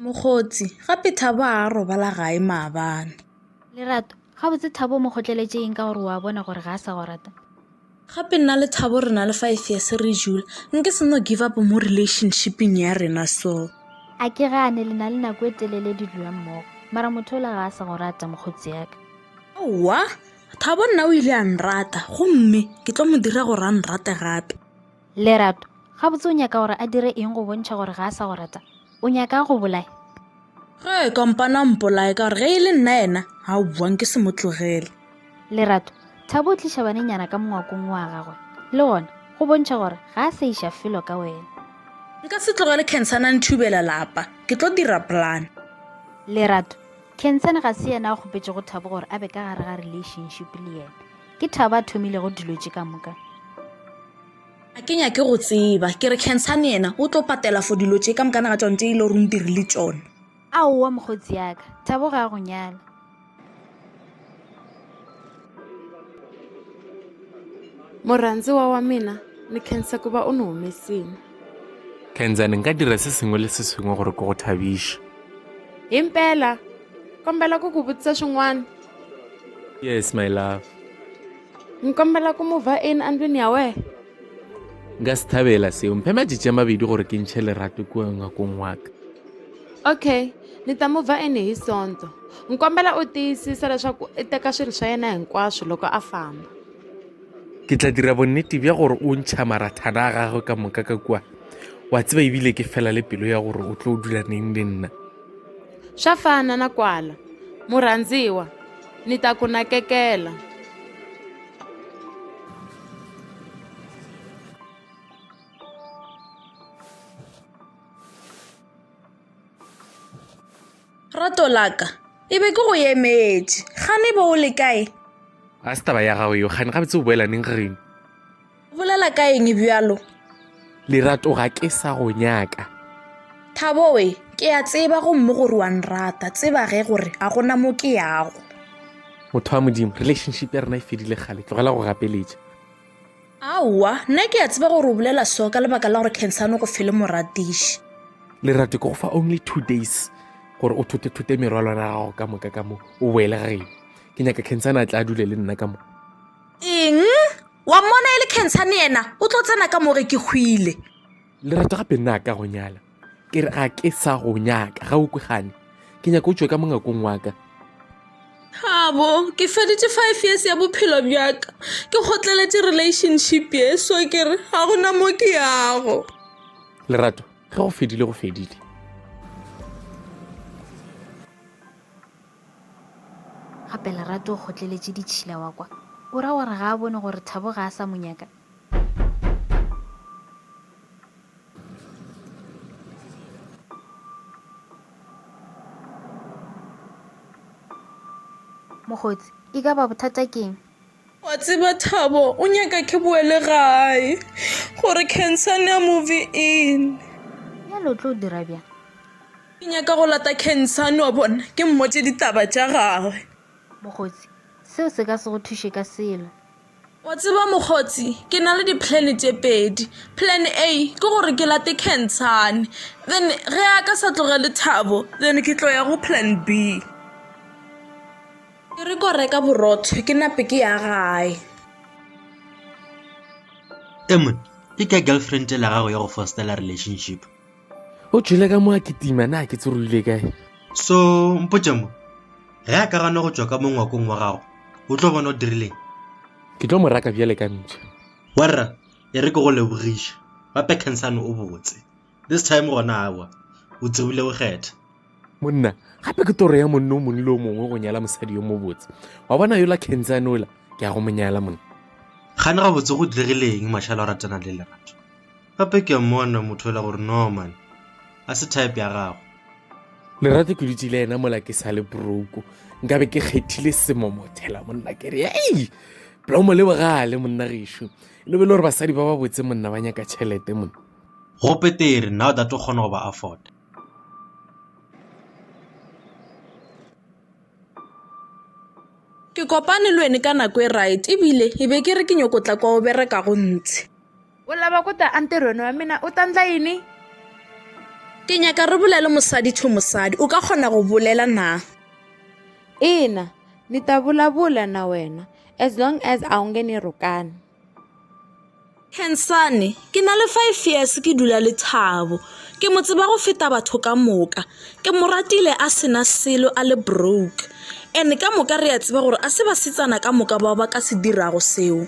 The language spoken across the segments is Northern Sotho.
mokgotsi gape thabo a robala gae maabane lerato gabotse thabo o mo kgotleletše eng ka gore wa bona gore ga a sa go rata gape nna le thabo re na le five years re jula nke seno give up mo relationshipeng ya rena so a ke gane le na le nako e telele di dula mmogo mara motho ola ga a sa go rata mokgotsi yaka owa thabo nna o ile a nrata gomme ke tlo mo dira gore a nrate gape Lerato, gabotse o nyaka gore a dire eng go bontšha gore ga a sa go rata? O nyaka a go bolaye? Ge e kompana mpolaye ka gore ge e le nna yena ga o buang ke se mo tlogele. Lerato, Thabo o tliša banenyana ka mongwakong wa gagwe le gona go bontšha gore ga a sa iša felo ka wena. Nka se tlogele Khensane a nthubela lapa, ke tlo dira plan. Lerato, Khensane ga se yena a kgopetšego Thabo gore a be ka gare ga relationship le yena. Ke Thabo a thomilego dilo tše ka moka. A ke nyake go tseba, ke re Khensane yena o tlo patela for dilo tše ka moka na ga tšone tše e le gore o ntirile tšone. Aowa mokgotsi yaka, Thabo ga a go nyala. Morhandziwa wa mina, ni khensa ku va u ni humesile. Khensane, nka dira se sengwe le se sengwe gore ke go thabiše. Himpela? Kombela ku ku vutisa swin'wana. yes my love nkombela ku mova in andwini ya we nka se thabela seo mphe majitše mabedi gore ke ntšhe lerato kua ngwakong waka okay ni ta mova in hi sonto nkombela u tiyisisa leswaku i teka swilo swa yena hinkwaswo loko a famba ke tla dira bonnete bja gore o ntšha marathana a gagwe ka moka ka kua wa tseba ebile ke fela le pelo ya gore o tlo dula neng le nna Swa fana na kwala, murhandziwa, ni ta ku nakekela. Rato laka, e be ke go emetše. Gane bo o le kae? Ga se taba ya gago yo, gane gabetse o boela neng, Rene? bolela ka eng bjalo lerato ga ke sa go nyaka thaboe ke a tseba gomme gore wa nrata tseba ge gore ga gona mo ke yago motho wa modimo relationship ya rena e fedile kgale tlogela go gapeletša aowa nna ke a tseba gore o bolela so ka lebaka la gore cancano go fele moratiši lerato ke go fa only two days gore o thote-thote merwalwana gago ka moka ka mo o boele ga geno ke nyaka cancano a tla a dule le nna ka mo eng wa mmona e le cancerne yena o tlo tsena ka more ke hwile le rata gape nna ka go nyala ke re ga ke sa go nyaka ga o kwe gane ke nyaka o tswe ka mongakong waka gabo ke feditse five years ya bophelo bjaka ke gotleletse relationship ye so ke re ga gona mo ke yago lerato ge go fedile go fedile Gape Lerato o kgotleletše ditšhila wa kwa. O ra gore ga a bone gore Thabo ga a sa mo nyaka. Mokgotsi, E ka ba bothata keng? Wa tseba Thabo o nyaka ke boele gae gore Khensani a move in. Bjale o tlo dira bjang? Ke nyaka go lata Khensani wa bona ke mmotše ditaba tša gagwe. Mokgotsi, seo se ka se go thuše ka selo. Wa tseba mokgotsi ke na le di plan tše pedi. Plan A ke gore ke late Khensani then ge a ka sa tlogele Thabo then ke tlo ya go plan B. Ke re ko reka borotho ke nape ke ya gae. Emon, ke ka girlfriend la gago ya go fostela relationship. O tšwele ka mo a kitima na ke tsorogile kae. So mpotše mo, ge a ka gana go tšwa ka mo ngwakong wa gago, o tlo bona o dirileng? Ke tlo mo raka bjale ka mpša. Warra, e re ke go lebogiše, gape Khensani o botse. this time gona awa o tsebile go kgetha monna gape ke toro ya monne o mongwe le o mongwe go nyala mosadi yo mobotse wa bona yola kentsan ola ke ya go monyala monna gane ga botse go diregileng mašala o ratana le lerato gape ke mmona motho ela gore norman a se type ya gago lerato ke dutse le ena mola ke sa le broko nkabe ke kgethile semomothela monna ke re ei blomo le bogale monna gešo le be le gore basadi ba ba botse monna ba nyaka tšhelete monna Go petere now that o kgona go ba afforda. Ke kopane le wene ka nako e right ebile e be ke re ke nyoko tla kwa o bereka go ntshe. O lava ku ta entirhweni wa mina u ta ndla yini? Ke nyaka re bulele mosadi to mosadi. U ka kgona go bulela na? Ina, ni ta vulavula na wena as long as a wu nge ni rhukani. Khensane, Ke na le five years ke dula le Thabo. Ke mo tseba go feta batho ka moka. Ke mo ratile a sena selo a le broke. And ka moka re a tseba gore a se basetsana ka moka bao ba ka se dirago seo.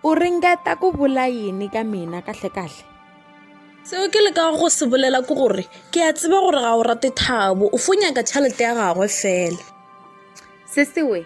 U ringeta ku vula yini ka mina kahle-kahle? Seo ke lekago go se bolela ke gore ke a tseba gore ga o rate Thabo, o fo nyaka tšhelete ya gagwe fela. Se sewe,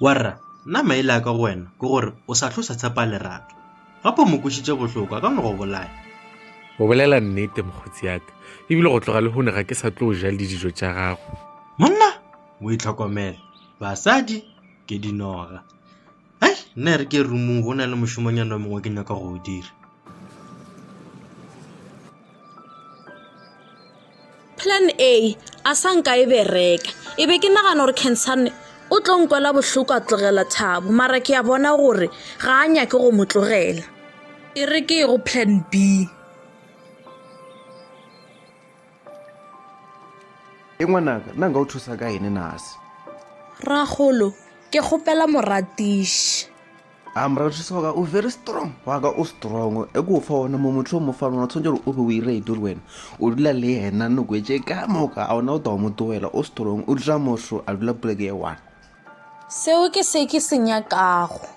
Warra, nna maele a ka go wena ke gore o sa hlo sa tshepa lerato. Gape o mo kwešitše bohloko, a ka no go bolaya. O bolela nnete, mokgotsi ya ka. Ebile go tloga lehono ga ke sa tlo o ja le dijo tša gago. Monna, o itlhokomele. Basadi ke dinoga. ai nna e re ke rumong go na le mošomonyana mongwe ke nyaka go o dira plan a a sa nka e bereka e be ke nagana gore cancerne o tlo nkwela bohloko a tlogela thabo mara ke ya bona gore ga a nyake go mo tlogela e re ke go plan b e ngwanaka nna nka o thusa ka ene nase ragolo ke kgopela moratiši a moratiši wa ka o very strong wa ka o strong e ko fa ona mo motlho mo fa lona tshwanetse gore o be o ire edo le wena o dula le ena noko e tše ka moka a ona o tawa mo togela o strong o dula motlho a dula poleke ye one seo ke se ke se nyakago